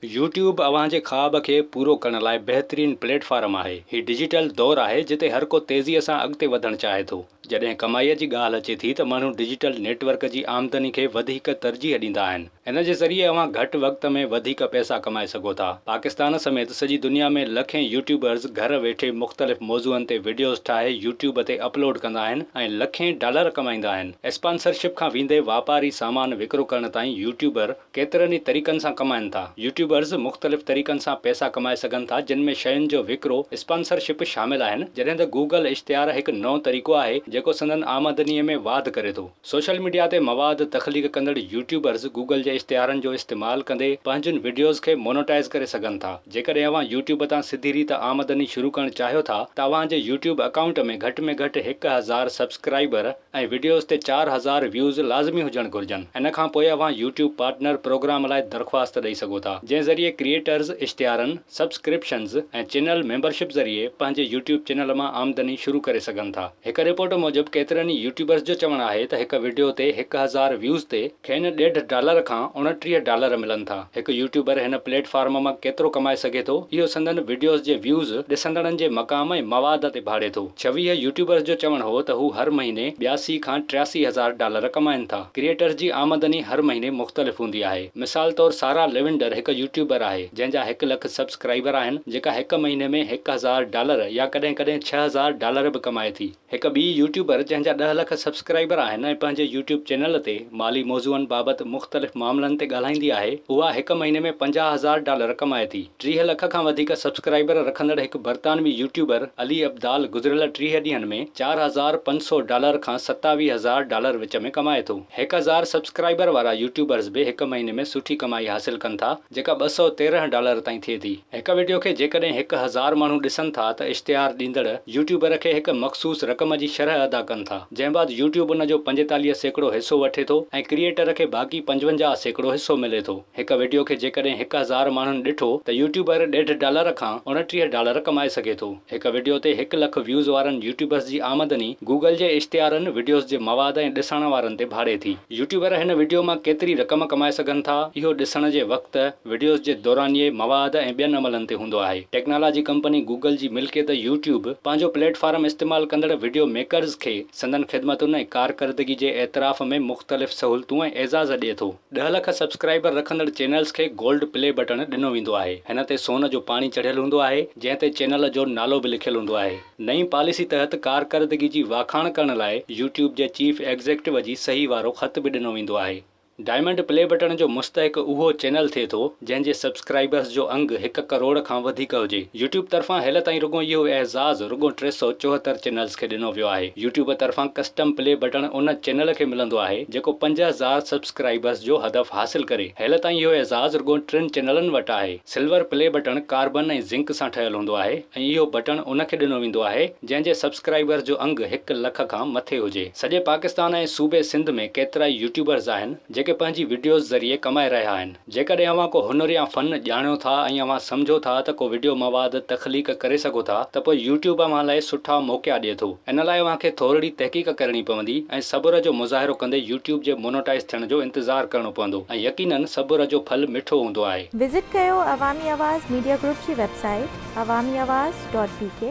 YouTube اوهان جي خواب کي پورو ڪرڻ لاء بهترين پليٽ فارم آهي. هي ڊجيٽل دور آهي جتي هر ڪو تيزيء سان اڳتي وڌڻ چاهي ٿو. جڏهن ڪمائيء جي ڳالهه اچي ٿي ته ماڻهو ڊجيٽل نيٽ ورڪ جي آمدني کي وڌيڪ ترجيح ڏيندا آهن. ان جي ذريعي اوهان گهٽ وقت ۾ وڌيڪ پئسا ڪمائي سگهو ٿا. پاڪستان سميت سڄي دنيا ۾ لکين يوٽيوبرز گهر ويٺي مختلف موضوعن تي وڊيوز ٺاهي يوٽيوب تي اپلوڊ ڪندا آهن ۽ لکين ڊالر ڪمائيندا آهن. اسپانسرشپ کان ويندي واپاري سامان وڪرو ڪرڻ تائين يوٽيوبر ڪيترن ئي طريقن سان ڪمائن ٿا. يوٽيوبرز مختلف طريقن سان پئسا ڪمائي سگهن ٿا جن ۾ شين جو وڪرو، اسپانسر شپ شامل آهن جڏهن ته گوگل اشتهار هڪ نئون طريقو آهي جيڪو سندن آمدني ۾ واڌ ڪري ٿو. سوشل ميڊيا تي مواد تخليق ڪندڙ يوٽيوبرز گوگل جي اشتهارن جو استعمال ڪندي پنهنجين وڊيوز کي مونوٽائز ڪري سگهن ٿا. جيڪڏهن اوهان يوٽيوب تان سڌي ريت آمدني شروع ڪرڻ چاهيو ٿا ته اوهان جي يوٽيوب اڪائونٽ ۾ گهٽ ۾ گهٽ هڪ هزار سبسڪرائبر ۽ وڊيوز تي چار هزار ويوز لازمي هجڻ گهرجن ان کان پوء اوهان يوٽيوب پارٽنر پروگرام لاء درخواست ڏئي سگهو ٿا جنهن ذريعي ڪريئيٽرز اشتهارن، سبسڪرپشنز ۽ چينل ميمبرشپ ذريعي پنهنجي يوٽيوب چينل مان آمدني شروع ڪري سگهن ٿا. هڪ رپورٽ موجب ڪيترن ئي يوٽيوبرز جو چوڻ آهي ته هڪ وڊيو تي هڪ هزار ويوز تي، کين ڏيڍ ڊالر کان اڻٽيهه ڊالر ملن ٿا. هڪ يوٽيوبر هن پليٽ فارم مان ڪيترو ڪمائي سگهي ٿو، اهو سندن وڊيوز جي ويوز، ڏسندڙن جي مقام ۽ مواد تي ڀاڙي ٿو. ڇويهه يوٽيوبرز جو چوڻ هو ته هو هر مهيني ٻياسي کان ٽياسي هزار ڊالر ڪمائين ٿا. ڪريئيٽرز جي آمدني هر مهيني مختلف هوندي آهي. مثال طور سارا ليونڊر هڪ يوٽيوبر آهي، جنهن جا هڪ لک سبسڪرائبر آهن، جيڪا هڪ مهيني ۾ هڪ هزار ڊالر يا ڪڏهن ڪڏهن ڇهه هزار ڊالر به ڪمائي ٿي. هڪ ٻي يوٽيوبر جنهن جا ڏهه لک سبسڪرائبر آهن ۽ پنهنجي يوٽيوب چينل تي مالي موضوعن بابت مختلف معاملن تي ڳالهائيندي آهي اها هڪ مهيني ۾ پنجاهه هزار ڊالر ڪمائي ٿي ٽيهه لک کان وڌيڪ سبسڪرائبر رکندڙ هڪ برطانوي يوٽيوبر علي ابدال گذريل ٽيهه ڏينهن ۾ چار هزار پنج سؤ ڊالر کان ستاويهه هزار ڊالر وچ ۾ ڪمائي ٿو هڪ هزار سبسڪرائبر وارا يوٽيوبرز به هڪ مهيني ۾ سٺي ڪمائي حاصل ڪن ٿا جيڪا ٻه سؤ تيرنهن ڊالر تائين ٿئي ٿي. هڪ وڊيو کي جيڪڏهن هڪ هزار ماڻهو ڏسن ٿا ته اشتهار ڏيندڙ يوٽيوبر کي هڪ مخصوص رقم جي شرح ادا ڪن ٿا جنهن بعد يوٽيوب ان جو پنجيتاليهه سيڪڙو حصو وٺي ٿو ۽ ڪريئيٽر کي باقي پنجونجاهه سيڪڙو حصو ملي ٿو. هڪ وڊيو کي جيڪڏهن هڪ هزار ماڻهن ڏٺو ته يوٽيوبر ڏيڍ ڊالر کان اڻٽيهه ڊالر ڪمائي سگهي ٿو. هڪ وڊيو تي هڪ لک ويوز وارن يوٽيوبرز جي آمدني گوگل جي اشتهارن، وڊيوز جي مواد ۽ ڏساڻن وارن تي ڀاڙي ٿي. يوٽيوبر هن وڊيو مان ڪيتري رقم ڪمائي سگهن ٿا اهو ڏسڻ جي وقت، وڊيوز جي دورانيي، مواد ۽ ٻين عملن تي هوندو آهي. ٽيڪنالاجي ڪمپني گوگل جي ملڪيت يوٽيوب پنهنجو پليٽ فارم استعمال ڪندڙ وڊيو ميڪرز کي سندن خدمتن ۽ ڪارڪردگي جي اعتراف ۾ مختلف سهولتون ۽ اعزاز ڏئي ٿو. ڏهه لک سبسڪرائبر رکندڙ چينلز کي گولڊ پلي بٽڻ ڏنو ويندو آهي. هن تي سون جو پاڻي چڙهيل هوندو آهي جنهن تي چينل جو نالو به لکيل هوندو آهي. نئين پاليسي تحت ڪارڪردگي جي واکاڻ ڪرڻ لاء يوٽيوب جي چيف ايگزيڪٽو جي صحيح وارو خط به ڏنو ويندو آهي. ڊائمنڊ پلي بٽڻ جو مستحق اهو چينل ٿئي ٿو جنهن جي سبسڪرائبرز جو انگ هڪ ڪروڙ کان وڌيڪ هجي. يوٽيوب طرفان هيل تائين رڳو اهو اعزاز رڳو ٽي سؤ چوهتر چينلز کي ڏنو ويو آهي. يوٽيوب طرفان ڪسٽم پلي بٽڻ ان چينل کي ملندو آهي جيڪو پنج هزار سبسڪرائبرز جو هدف حاصل ڪري. هيل تائين اهو اعزاز رڳو ٽن چينلن وٽ آهي. سلور پلي بٽڻ ڪاربن ۽ زنڪ سان ٺهيل هوندو آهي ۽ اهو بٽڻ ان کي ڏنو ويندو آهي جنهن جي سبسڪرائبرز جو انگ هڪ لک کان مٿي هجي سڄي پاڪستان ۽ صوبي سنڌ ۾ ڪيترائي يوٽيوبرز آهن جيڪي پنهنجي وڊيوز ذريعي ڪمائي رهيا آهن جيڪڏهن اوهان ڪو هنر يا فن ڄاڻيو ٿا ۽ اوهان سمجهو ٿا ته ڪو وڊيو مواد تخليق ڪري سگهو ٿا ته پوء يوٽيوب اوهان لاء سٺا موقعا ڏئي ٿو ان لاء اوهان کي ٿورڙي تحقيق ڪرڻي پوندي ۽ صبر جو مظاهرو ڪندي يوٽيوب جي مونوٽائز ٿيڻ جو انتظار ڪرڻو پوندو ۽ يقينن صبر جو ڦل مٺو هوندو آهي. وزٽ ڪيو عوامي آواز ميڊيا گروپ جي website Awami Awaz dot بي ڪي.